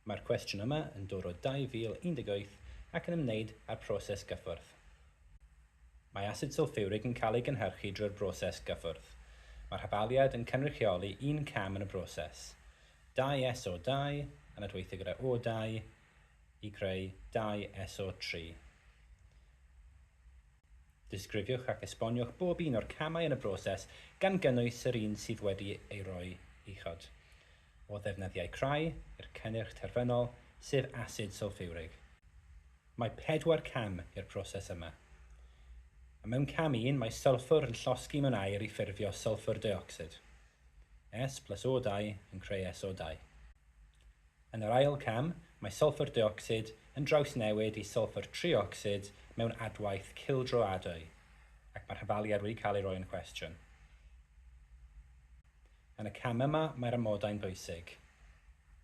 Mae'r cwestiwn yma yn dod o 2018 ac yn ymwneud â'r proses gyffwrdd. Mae asid sylffiwrig yn cael ei gynhyrchu drwy'r broses gyffwrdd. Mae'r hafaliad yn cynrychioli un cam yn y broses, dau SO2 yn adweithio gyda O2 i greu dau SO3. Disgrifiwch ac esboniwch bob un o'r camau yn y broses, gan gynnwys yr un sydd wedi ei roi uchod, o ddefnyddiau crai i'r cynnyrch terfynol, sef asid sylffiwrig. Mae pedwar cam i'r proses yma. A Mewn cam un, mae sylffwr yn llosgi mewn aer i ffurfio sylffwr deuocsid. S plus O2 yn creu SO2. Yn yr ail cam, mae sylffwr deuocsid yn drawsnewid i sylffwr triocsid mewn adwaith cildroadwy, ac mae'r hafaliad wedi cael ei roi yn cwestiwn. Yn y cam yma, mae'r amodau'n bwysig.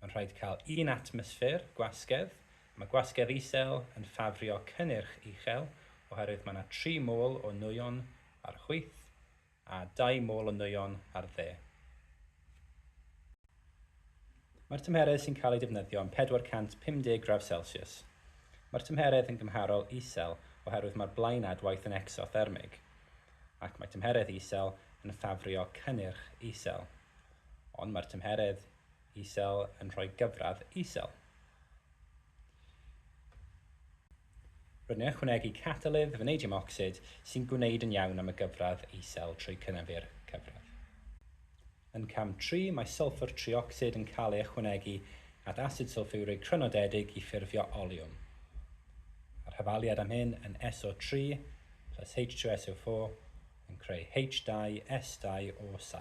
Mae'n rhaid cael un atmosffer gwasgedd, a mae gwasgedd isel yn ffafrio cynnyrch uchel oherwydd mae yna tri mol o nwyon ar chwith, A dau mol o nwyon ar dde. Mae'r tymheredd sy'n cael ei defnyddio yn 450 gradd Celsius. Mae'r tymheredd yn gymharol isel oherwydd mae'r blaenadwaith yn ecsothermig, ac mae tymheredd isel yn ffafrio cynnyrch isel. Ond mae'r tymheredd isel yn rhoi gyfradd isel. Rydyn ni'n ychwanegu catalydd fanedium ocsid sy'n gwneud yn iawn am y gyfradd isel trwy cynaeafu'r cyfradd. Yn cam tri, mae sylffwr triocsid yn cael ei ychwanegu at asid sylffiwrig crynodedig i ffurfio oliwm. Mae'r hyfaliad am hyn yn SO3 plus H2SO4 yn creu H2S2O7.